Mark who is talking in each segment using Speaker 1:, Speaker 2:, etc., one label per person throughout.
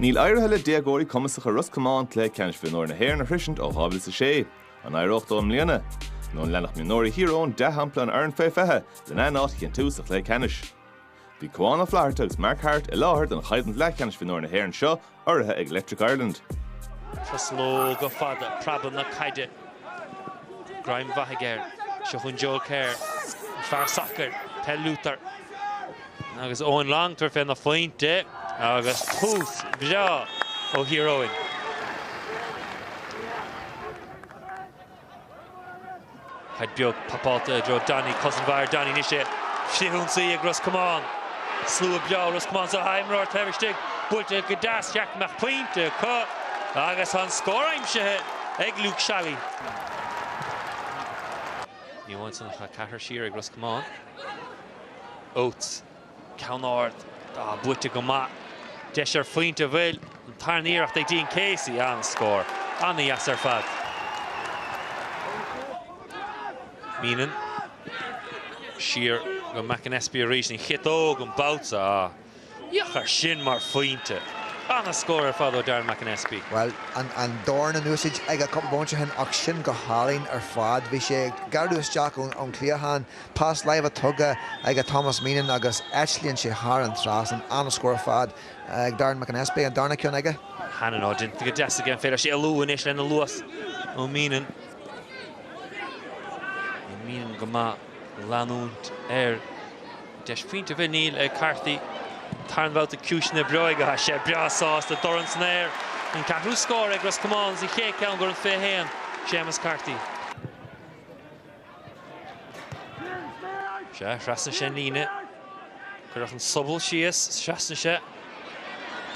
Speaker 1: Níl éirithe le déagóirí cumasacha Ros Comáin cluiche ceannais mhionúir na hÉireann a shroisint ó 2006. An éireoidh leo i mbliana? Nó an leanfaidh mionúirí Thír Eoghain dea-shampla na foirne fé 20 lena n-áit a chinntiú sa chluiche ceannais? Bhí Cuán Ó Flatharta agus Mark Harte i láthair don choimhlint leathcheannais mhionúir na hÉireann seo, urraithe ag Electric Ireland.
Speaker 2: Truslóga fada, preabadh na caide, greim mhaith aige air. Seo chugainn Joel Kerr, an fear sacair, peil lúfar. Agus Eoin Long tar féna phointe agus tús breá ó Thír Eoghain. Caid beag papáilte i dtreo Danny, cosaint mhaith ar Danny anois í. Frithionsaí ag Ros Comáin. Siúl breá Ros Comáin tá imreoir taobh istigh. Buailte go deas, cheart go mbeadh pointe acu agus an scór aimsithe ag Luke Shally. Ní amháin san ach tá triúr siar ag Ros Comáin. Oates, ceann ard, ah buaite go maith. Deis ar phointe bhfuil, an tarna iarracht ag Dean Casey, an-scór. Ana-dheas ar fad. Meenan, siar go McAnespie arís, an chiotóg an babhta so. Féach air sin mar phointe! An-scór ar fad ó Darren McAnespie. Bhuel,
Speaker 3: an dorn in úsaid aige cúpla bomaite ó shin ach sin go hálainn ar fad. Bhí sé ag gearradh isteach ón chliatháin, pas láimhe tugtha aige Thomas Meenan agus eitlíonn sé thar an trasnán. An-scór ar fad ag Darren McAnespie, an darna cionn aige. Hannon, ó, déanta
Speaker 2: go deas aige, an féidir leis éalú anois lena luas ó Meenan? Bhí Meenan go maith. leanúint air. Deis phointe an bhfuil? Níl ag Carthy tarna babhta cúiseanna breoige Tá sé breá sásta dorn san aer an ceathrú scór ag Ros Comáin 's an chéad cheann d'fhear an 21 Séamus Carthy. Sea, thrasnaigh sé an líne. Cuireadh an sobal síos, seasann sé.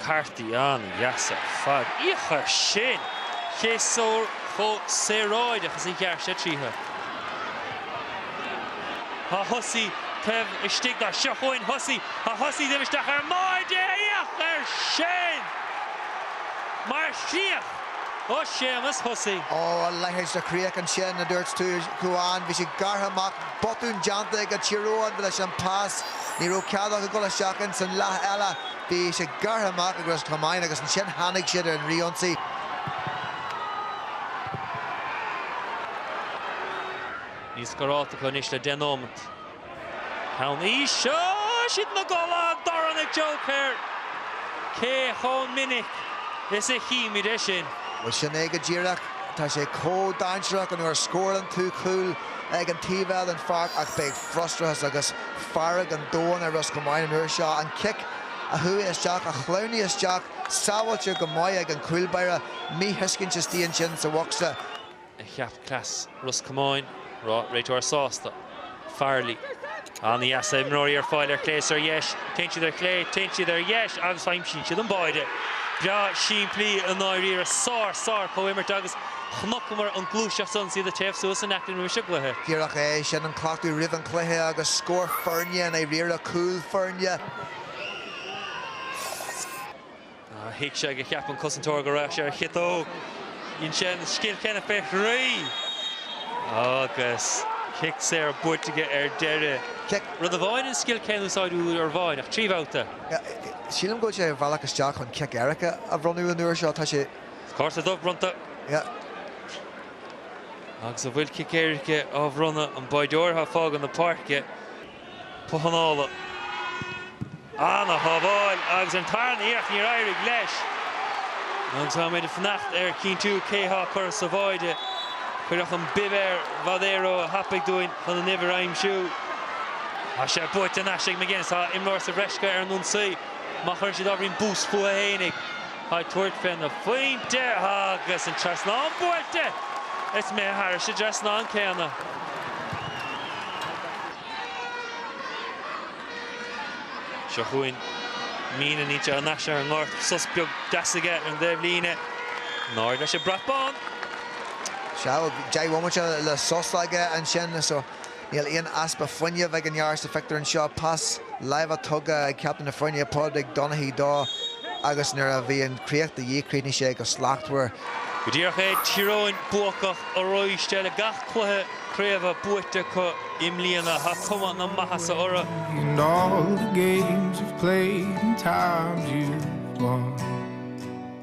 Speaker 2: Carthy ana-dheas ar fad. Féach air sin! Féach ar chomh saoráideach is a ghearr sé tríothu. Tá Hussey taobh istigh de. Seo chugainn Hussey. Tá Hussey imithe isteach ar mbáire. Féach air sin mar chríoch ó Séamus Hussey. Ó, a leithéid de
Speaker 3: chríoch ansin, mar a dúirt tú, a Chuáin. Bhí sé gearrtha amach. Botún déanta ag Tír Eoghain leis an pas, ní raibh cead acu dul isteach ins an leath eile, bhí sé gearrtha amach ag Ros Comáin agus ansin tháinig siad ar an fhrithionsaí.
Speaker 2: Níl scóráilte acu anois le deich nóimeat. Ceann aois, oh! siad ina gcodladh an dorn ag Joel Kerr. Cé chomh minic is a chímid é sin? Bhuel sin é go
Speaker 3: díreach, tá sé chomh dainséarach nuair a scórann tú cúl. ag an taobh eile den pháirc ach beidh frustrachas agus fearg an domhain ar Ros Comáin an uair seo. An cic a chuaigh isteach, a shleamhnaigh isteach, sábháilte go maith ag an cúlbáire, míthuiscint istigh ansin sa bhocsa. a cheap
Speaker 2: cleas Ros Comáin, réiteoir sásta, Farrelly. An-dheas. Imreoirí ar fáil ar chlé is ar dheis. Téann siad ar chlé, téann siad ar dheis agus aimsíonn siad an báire. Breá simplí i ndáiríre. Sár, sár chomhimirt agus chnocamar an gluaiseacht san is iad ag téamh suas anocht roimis an gcluiche. Díreach é sin
Speaker 3: an cleachtadh roimh an gcluiche agus scór foirne i ndáiríre, cúl foirne.
Speaker 2: Thuig sé go cheap an cosantóir go raibh sé ar chiotóg. Dhein sé an scil chéanna fé thrí agus cic saor buaite aige ar deireadh. Rud amháin an scil chéanna a úsáid uair amháin, ach trí bhabhta. Sílim
Speaker 3: go bhfuil sé ar bhealach isteach chun cic éirice a bhronnadh an uair seo. Tá sé. Cárta dubh
Speaker 2: bronnta. Agus ó bhfuil cic éirice á bhronnadh, an báireoir athá ag fágaint na páirce. Pocanála. Ana shábháil agus ar an tarna iarracht níor éirigh leis. Agus táimid ag fanacht ar chinntiú cé thá á chur sa bháide. Cuireadh an bib ar, b'fhéidir ró-thapaidh dúinn chun an uimhir a aimsiú. Tá sé buaite thar n-ais ag McGuinness. Tá imreoir sa bhreis acu ar an ionsaí. Má chuireann siad ábhairín bus fúthu fhéinig. Ag tabhairt fén bpointe agus an trasnán buailte, is é thar an dtrasnán céanna. Seo chugainn Meenan, fillte thar n-ais ar an ngort, sos beag deas aige ar an dtaobhlíne. In airde leis an brat bán.
Speaker 3: Sea, deich bhomaite de shos aige ansin. Níl aon easpa fuinneamh ag an bhfear sa phictiúr anseo. Pas láimhe tugtha ag Captaen na Foirne, Pádraig Donaghy dó agus nuair a bhí an chríoch de dhíth chríochnaigh sé go slachtmhar. Go díreach é,
Speaker 2: Tír Eoghain buacach arís. Tar éis gach cluiche craoibhe buaite acu i mbliana. Tá cuma na maitheasa orthu. And all
Speaker 4: the games you've played and times you've won.